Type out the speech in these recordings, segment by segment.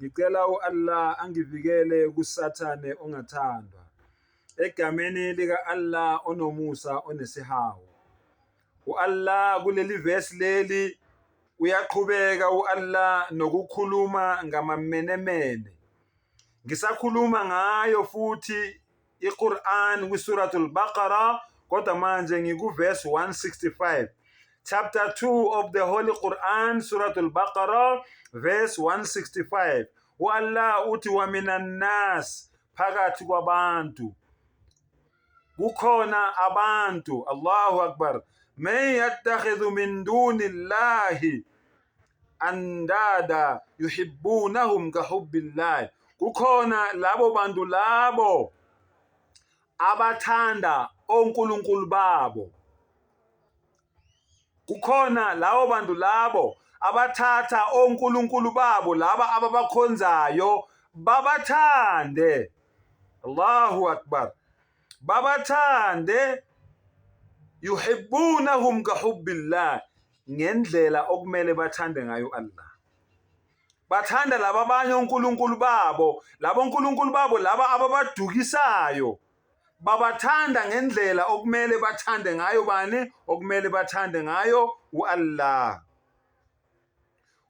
Ngicela u-Allah angivikele kusathane ongathandwa. Egameni lika-Allah onomusa onesihawu. U-Allah kuleli vesi leli uyaqhubeka u-Allah nokukhuluma ngamamenemene. Ngisakhuluma ngayo futhi iQur'an kwiSuratul Baqarah kodwa manje ngikuverse 165 chapter 2 of the Holy Quran Suratul Baqarah verse 165 uAllah uthi wa minan nas phakathi kwabantu kukhona abantu Allahu Akbar man yattakhidhu min dunillahi andada yuhibbunahum kahubbillah kukhona labo bantu labo abathanda onkulunkulu babo kukhona labo bantu labo abathatha onkulunkulu babo laba ababakhonzayo babathande Allahu akbar babathande yuhibbunahum kahubbillah ngendlela okumele bathande ngayo Allah bathanda laba abanye onkulunkulu babo labo nkulunkulu babo laba ababadukisayo babathanda ngendlela okumele bathande ngayo bani okumele bathande ngayo uAllah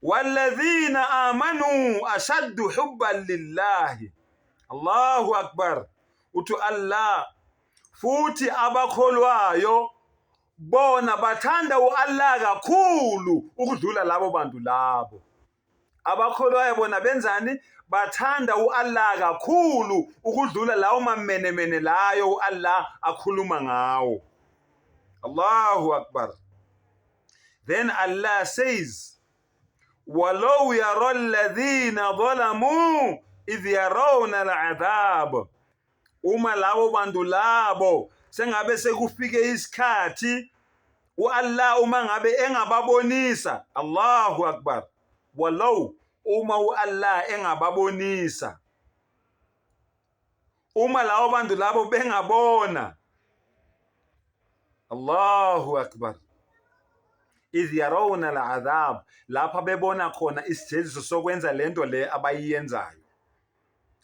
walladhina amanu ashaddu hubban lillahi Allahu akbar uthi Allah futhi abakholwayo bona bathanda u-Allah kakhulu ukudlula labo bantu labo abakholwayo bona benzani bathanda u-Allah kakhulu ukudlula lawo mamenemene layo u-Allah akhuluma ngawo Allahu akbar then Allah says walau yara alladhina zalamu idh yarawna al'adhab uma labo bantu labo sengabe sekufike isikhathi uAllah uma ngabe engababonisa Allahu akbar walau uma uAllah engababonisa uma labo bantu labo bengabona Allahu akbar idh yarawna al'adhab lapha bebona khona isijeziso sokwenza lento le abayiyenzayo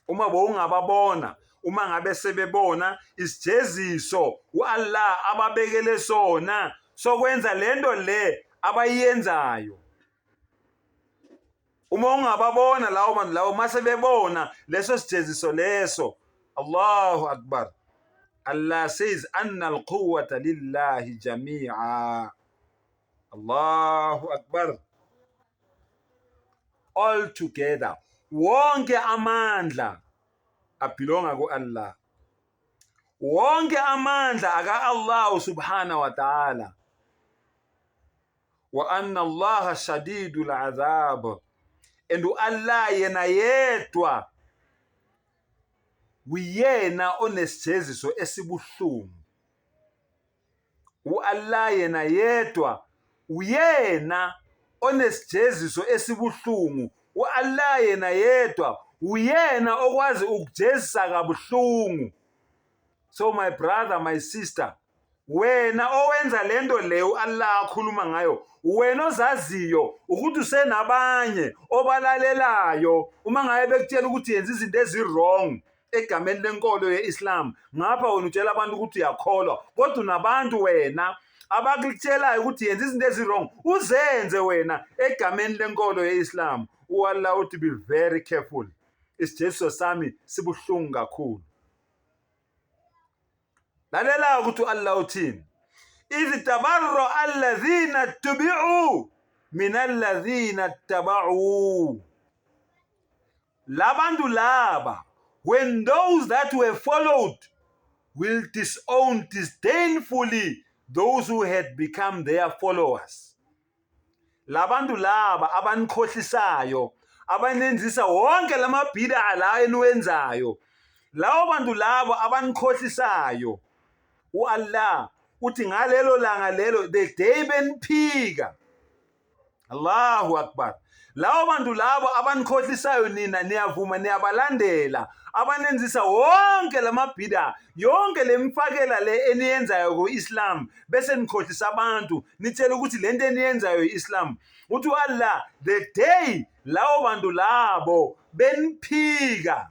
uma bowungababona uma ngabe sebebona isijeziso uAllah ababekele sona sokwenza lento le abayenzayo uma ungababona lawo bantu lawo mase bebona leso sijeziso leso Allahu akbar Allah says anna alquwwata lillahi jami'a Allahu akbar all together wonke amandla abhilonga ku-Allah wonke amandla aka-Allah subhana wa ta'ala wa anna Allah shadidul azab and u-Allah yena yedwa uyena onesijeziso esibuhlungu U-Allah yena yedwa uyena onesijeziso esibuhlungu. U-Allah yena yedwa uyena okwazi ukujezisa kabuhlungu. So my brother, my sister, wena owenza lento le u-Allah akhuluma ngayo wena ozaziyo ukuthi usenabanye obalalelayo uma ngabe bekutshela ukuthi yenza izinto ezi-wrong egameni lenkolo ye-islam ngapha wena utshela abantu ukuthi uyakholwa kodwa unabantu wena abakutshelayo ukuthi yenza izinto ezi-wrong uzenze wena egameni lenkolo ye-islam uallah uthi be very careful isijeziso sami sibuhlungu kakhulu lalela-ke ukuthi u-allah uthini idh tabarra alladhina tubiu min alladhina tabau labantu laba when those that were followed will disown disdainfully those who had become their followers labantu laba abanikhohlisayo abanenzisa wonke lamabhida la eniwenzayo lawo bantu labo abanikhohlisayo uAllah uthi ngalelo langa lelo the day beniphika Allahu akbar lawo bantu labo abanikhohlisayo nina niyavuma niyabalandela abanenzisa wonke lamabhida yonke lemfakela le eniyenzayo ku-islam bese nikhohlisa abantu nitshela ukuthi le nto eniyenzayo i-islam uthi u-allah the day lawo bantu labo beniphika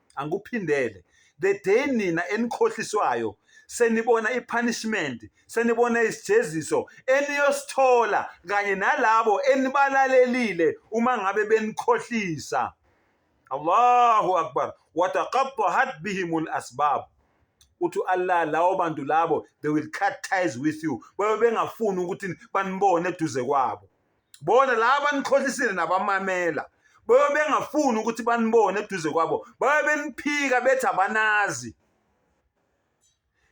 angikuphindele the day nina enikhohliswayo senibona ipunishment senibona isijeziso eniyosithola kanye nalabo enibalalelile uma ngabe benikhohlisa Allahu akbar wataqattahat bihimul asbab uthi Allah lawo bantu labo they will cut ties with you babe bengafuni ukuthi banibone eduze kwabo bona laba nikhohlisile nabamamela babe bengafuni ukuthi banibone eduze kwabo babe beniphika bethi abanazi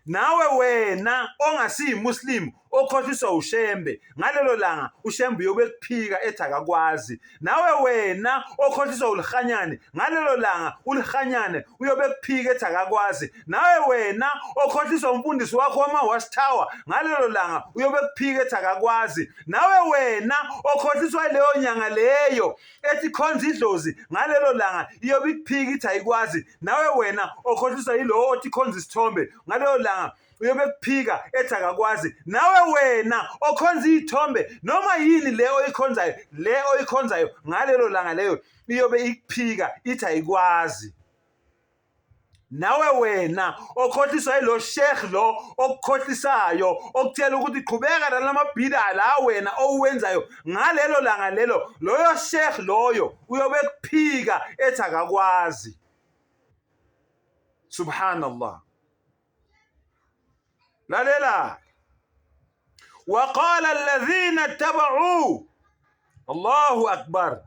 nawe wena ongasiyimuslim okhohliswa ushembe ngalelo langa ushembe uyobe kuphika ethi akakwazi nawe wena okhohliswa ulihanyane ngalelo langa ulihanyane uyobe kuphika ethi akakwazi nawe wena okhohliswa umfundisi wakho wama-watchtower ngalelo langa uyobe kuphika ethi akakwazi nawe wena okhohliswa leyo nyanga leyo ethi khonza idlozi ngalelo langa iyobe ikuphika ithi ayikwazi nawe wena okhohliswa yilowo othi khonza isithombe ngalelo langa uyobe kuphika ethi akakwazi nawe wena okhonza iy'thombe noma yini le oyikhonzayo le oyikhonzayo ngalelo langa leyo iyobe ikuphika ithi ayikwazi nawe wena okhohliswa ilo sheikh lo okukhohlisayo okutshela ukuthi qhubeka nalamabhida la wena owenzayo ngalelo langa lelo loyo sheikh loyo uyobe kuphika ethi akakwazi subhanallah lalela waqala alladhina tabau Allahu akbar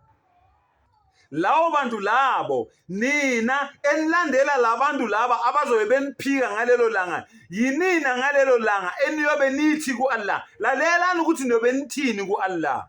lawo bantu labo nina enilandela labantu laba abazobe beniphika ngalelo langa yinina ngalelo langa eniyobe nithi ku-Allah lalelani ukuthi niyobe nithini ku-Allah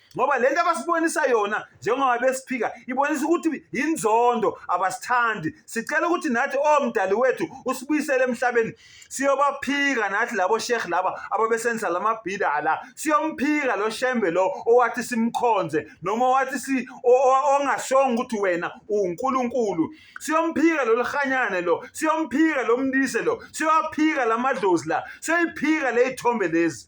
ngoba le nto abasibonisa yona njengoba besiphika ibonisa ukuthi yinzondo abasithandi sicela ukuthi nathi omdali wethu usibuyisele emhlabeni siyobaphika nathi labo sheikh laba ababesenzisa lamabhida la siyomphika lo shembe lo owathi simkhonze noma wathi si ongashonga ukuthi wena uNkulunkulu siyomphika lo lihanyane lo siyomphika lo mndise lo siyophika lamadlozi la siyoyiphika lezithombe lezi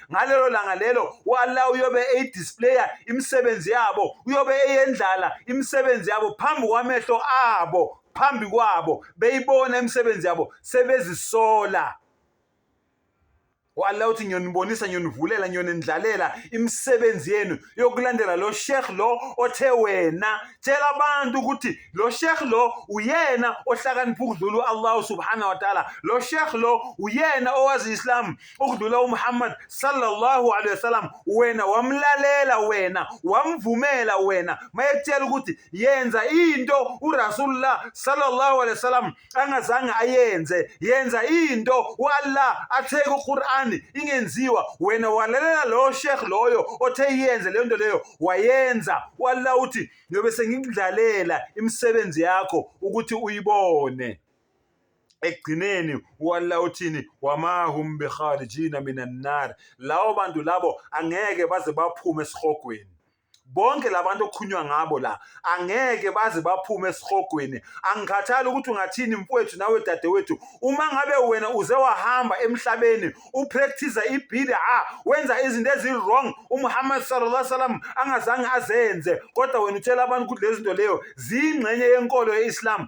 ngalelo langa lelo wala uyobe eyidisplaya imisebenzi yabo uyobe eyendlala imisebenzi yabo phambi kwamehlo abo phambi kwabo beyibona imisebenzi yabo sebezisola wala uthi ngiyonibonisa ngiyonivulela ngiyonindlalela imisebenzi yenu yokulandela lo sheikh lo othe wena tshela abantu ukuthi lo sheikh lo uyena ohlakanipha ukudlula uAllah subhanahu wa ta'ala lo sheikh lo uyena owazi islam ukudlula uMuhammad sallallahu alaihi wasallam wena wamlalela wena wamvumela wena mayekutshela ukuthi yenza into uRasulullah sallallahu alaihi wasallam angazange ayenze yenza into uAllah atheke uQur'an ingenziwa wena walalela lo sheikh loyo othe yenze le nto leyo wayenza uAllah uthi ngiyobe sengikudlalela imisebenzi yakho ukuthi uyibone ekugcineni uAllah uthini wamahum bikharijina minan nar lawo bantu labo angeke baze baphume esihogweni bonke labantu okukhunywa ngabo la angeke baze baphume esihogweni angikhathali ukuthi ungathini mfowethu nawe dadewethu uma ngabe wena uze wahamba emhlabeni upractice ibhida wenza izinto ezi-wrong umuhammad sallallahu alaihi wasallam angazange azenze kodwa wena utshela abantu ukuthi lezi zinto leyo ziyingxenye yenkolo ye-islam